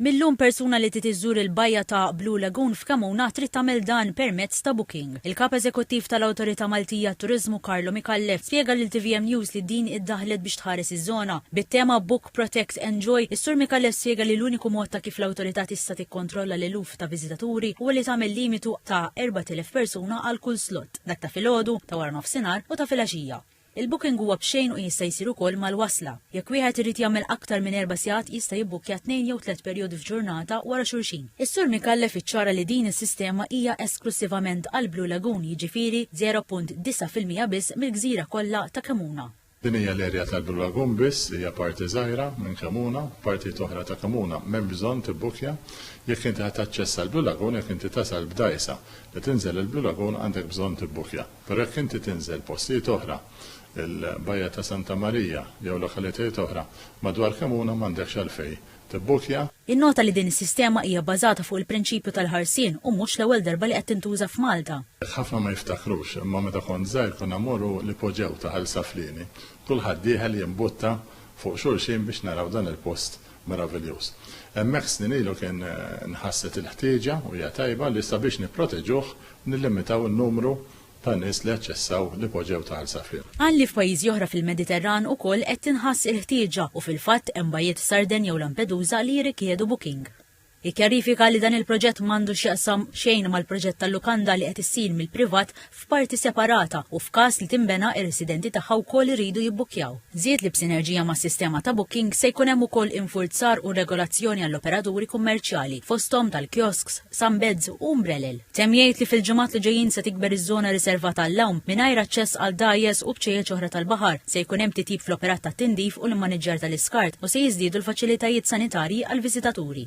Mil-lum persuna li trid iżżur il-bajja ta' Blue Lagoon f'Kemuna trid tagħmel dan permezz ta' booking. Il-Kap Eżekuttiv tal-Awtorità Maltija għat-Turiżmu Carlo Micallef spjega lil tvm News li din iddaħħlet biex tħares iż-żona. Bit-tema Book, Protect, Enjoy, is-Sur Micallef spjega li l-uniku mod ta' kif l-Awtorità tista' tikkontrolla l-eluf ta' viżitaturi huwa li tagħmel limitu ta' 4,000 persuna għal kull slot, dak ta' filgħodu, ta' waranofsinhar u ta' filgħaxija. Il-booking huwa b'xejn u jista' jsir ukoll mal-wasla. Jekk wieħed irid jagħmel aktar minn erba' sigħat jista' jibbukkja tnejn jew tliet perjodi f'ġurnata wara xulxin. Is-Sur Micallef iċċara li din is-sistema hija esklussivament għall-Blue Lagoon jiġifieri 0.9 fil-mija biss mill-gżira kollha ta' Kemmuna. Din hija l-erja tal-Blue Lagoon biss li hija parti żgħira minn Kemmuna, partijiet oħra ta' Kemmuna m'hemm bżonn tibbukkja jekk inti ħa taċċessa l-Blue Lagoon jekk inti tasal b'dgħajsa li tinżel il-Blue Lagoon għandek bżonn tibbukkja. Però jekk inti tinżel postijiet oħra, il-Bajja ta' Santa Marija jew lokalitajiet oħra madwar Kemuna m'għandekx għalfejn tibbukkja. Jinnota li din is-sistema hija bbażata fuq il-prinċipju tal-ħarsien u mhux l-ewwel darba li qed tintuża f'Malta. Jekk ħafna ma jiftakrux, imma meta kont żgħir konna mmorru l-ipoġew ta' Ħal Saflieni. Kulħadd dieħel jimbutta fuq xulxin biex naraw dan il-post meraviljuż. Hemmhekk snin ilu kien nħasset il-ħtieġa, u hija tajba, li sabiex nipproteġuh nillimitaw in-numru ta' nies li aċċessaw l-ipoġew ta' Għansafir. Qal li f'pajjiżi oħra fil-Mediterran ukoll qed tinħass il-ħtieġa u fil-fatt hemm bajjiet f'Sardenja u Lampedusa li jirrikjedu booking. Jikkjarifika li dan il-proġett m'għandu x'jaqsam xejn mal-proġett tal-lukanda li qed issir mill-privat f'parti separata u f'każ li tinbena ir-residenti tagħha wkoll iridu jibbukkjaw. Żied li b'sinerġija mas-sistema ta' booking se jkun hemm ukoll infurzar u regolazzjoni għall-operaturi kummerċjali fosthom tal-kiosks, sunbeds u umbrellel. Temm jgħid li fil-ġimgħat li ġejjin se tikber iż-żona riservata għall-lawm mingħajr aċċess għal dgħajjes u bċejjeċ oħra tal-baħar, se jkun hemm titjib fl-operat tat-tindif u l-immaniġġjar tal-iskart u se jiżdiedu l-faċilitajiet sanitarji għall-viżitaturi.